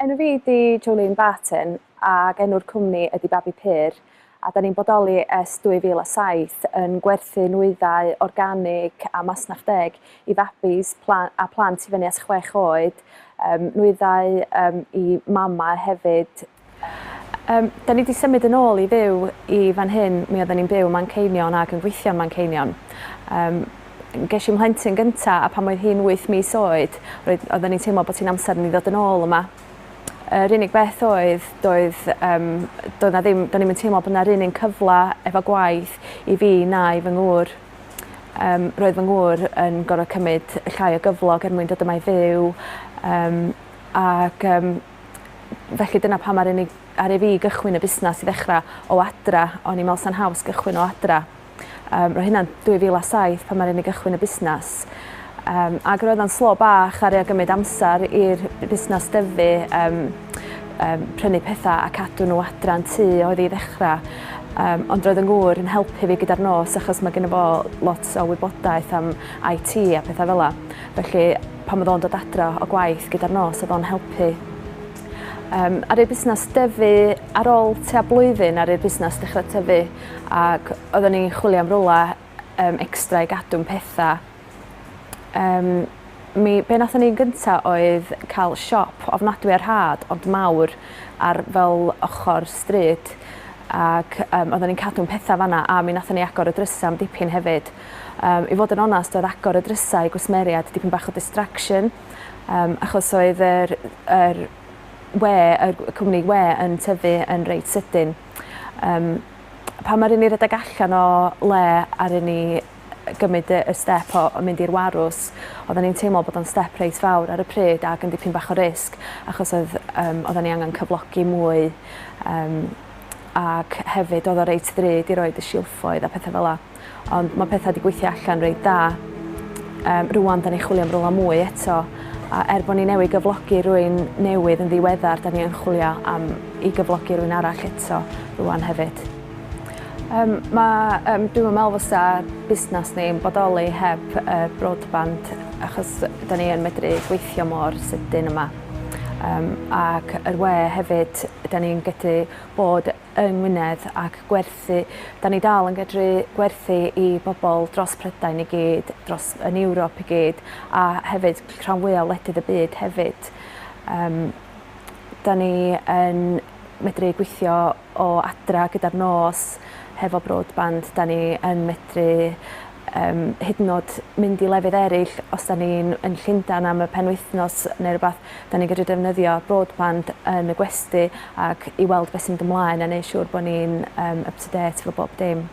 Enw fi ydi Jolene Barton ac enw'r cwmni ydi Babi Pur a da ni'n bodoli ers 2007 yn gwerthu nwyddau organig a masnach deg i fabis a plant i fyny at chwech oed, nwyddau i mamau hefyd Yym, 'da ni 'di symud yn ôl i fyw i fan hyn, mi oedden ni'n byw Manceinion ac yn gweithio yn Manceinion. Yym, gesh i 'mhlentyn gynta' a pan oedd hi'n wyth mis oed roedd oedden ni'n teimlo bod hi'n amser i ni ddod yn ôl yma. Yr unig beth oedd doedd yym doedd 'na ddim do'n ni'm yn teimlo bo' 'na'r un un cyfla efo gwaith i fi na i fy ngŵr. Yym roedd fy ngŵr yn gor'o' cymyd llai o gyflog er mwyn dod yma i fyw yym ac yym Felly dyna pam aru ni aru fi gychwyn y busnas i ddechra o adra o'n i'n me'wl sa'n haws gychwyn o adra. Yym ro' hynna'n dwy fil a saith pan aru ni gychwyn y busnas yym ag roedd o'n slo bach aru o gymyd amsar i'r b- busnas dyfu yym yym prynu petha a cadw n'w adra yn tŷ oedd 'i ddechra yym ond roedd 'yn ngŵr yn helpu fi gyda'r nos achos ma' geno fo lot o wybodaeth am IT a petha fel 'a. Felly, pan oedd o'n dod adra o gwaith gyda'r nos, oedd o'n helpu. Um, ar ei busnes dyfu ar ôl tua blwyddyn ar ei busnes dechrau tyfu ac oeddwn ni'n chwilio am rola um, extra i gadw'n pethau. Um, mi, be nathon ni'n gynta oedd cael siop ofnadwy ar had ond mawr ar fel ochr stryd ac um, oeddwn ni'n cadw'n pethau fanna a mi nathon ni agor y drysau am dipyn hefyd. Yym, i fod yn onast, oedd agor y drysau i gwsmeriaid dipyn bach o distraction, um, achos oedd yr, yr we, y cwmni we yn tyfu yn reit sydyn. Um, pa mae'r un i redeg allan o le ar un i gymryd y step o mynd i'r warws, oedden ni'n teimlo bod o'n step reit fawr ar y pryd ac yn dipyn bach o risg, achos oedd, um, oedden ni angen cyflogi mwy um, ac hefyd oedd o reit ddrud i roed y silffoedd a pethau fel la. Ond mae pethau wedi gweithio allan reit dda. Um, rwan, da ni'n chwilio am rola mwy eto. A er bod ni newid gyflogi rwy'n newydd yn ddiweddar, da ni'n chwilio am i gyflogi rwy'n arall eto rwan hefyd. Um, mae, um, dwi'n meddwl fysa busnes ni'n bodoli heb uh, broadband achos da ni yn medru gweithio mor sydyn yma. Um, ac yr we hefyd, da ni'n gallu bod yng Ngwynedd ac gwerthu, 'dan ni dal yn gedru gwerthu i bobl dros Prydain i gyd, dros yn Ewrop i gyd a hefyd rhan fwya' o wledydd y byd hefyd. Yym 'dan ni yn medru gweithio o adra gyda'r nos hefo broadband 'dan ni yn medru Yym, hyd yn o'd mynd i lefydd eryll, os 'da ni'n yn Llundan am y penwythnos ne' rwbath, 'da ni'n gedru defnyddio broadband yn y gwesty ac i weld be' sy'n mynd ymlaen a neu' siŵr bo' ni'n yym up to date efo bob dim.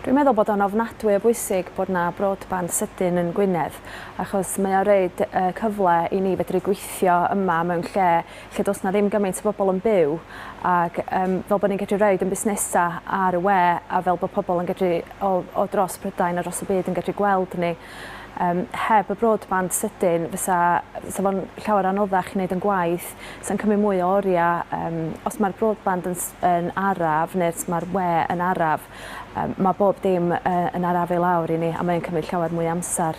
Dwi'n meddwl bod o'n ofnadwy o bwysig bod 'na broadband sydyn yn Gwynedd achos mae o roid y cyfle i ni fedru gweithio yma mewn lle lle does na ddim gymaint o bobl yn byw ac um, fel bod ni'n gallu rhaid yn busnesau ar y we a fel bod pobl yn gallu o, o dros Prydain a dros y byd yn gallu gweld ni. Um, heb y broadband sydyn fysa, fysa fo'n llawer anoddach i wneud yn gwaith sy'n cymryd mwy o oriau um, os mae'r broadband yn, yn araf neu os mae'r we yn araf um, mae bob dim uh, yn araf i lawr i ni a mae'n cymryd llawer mwy amser.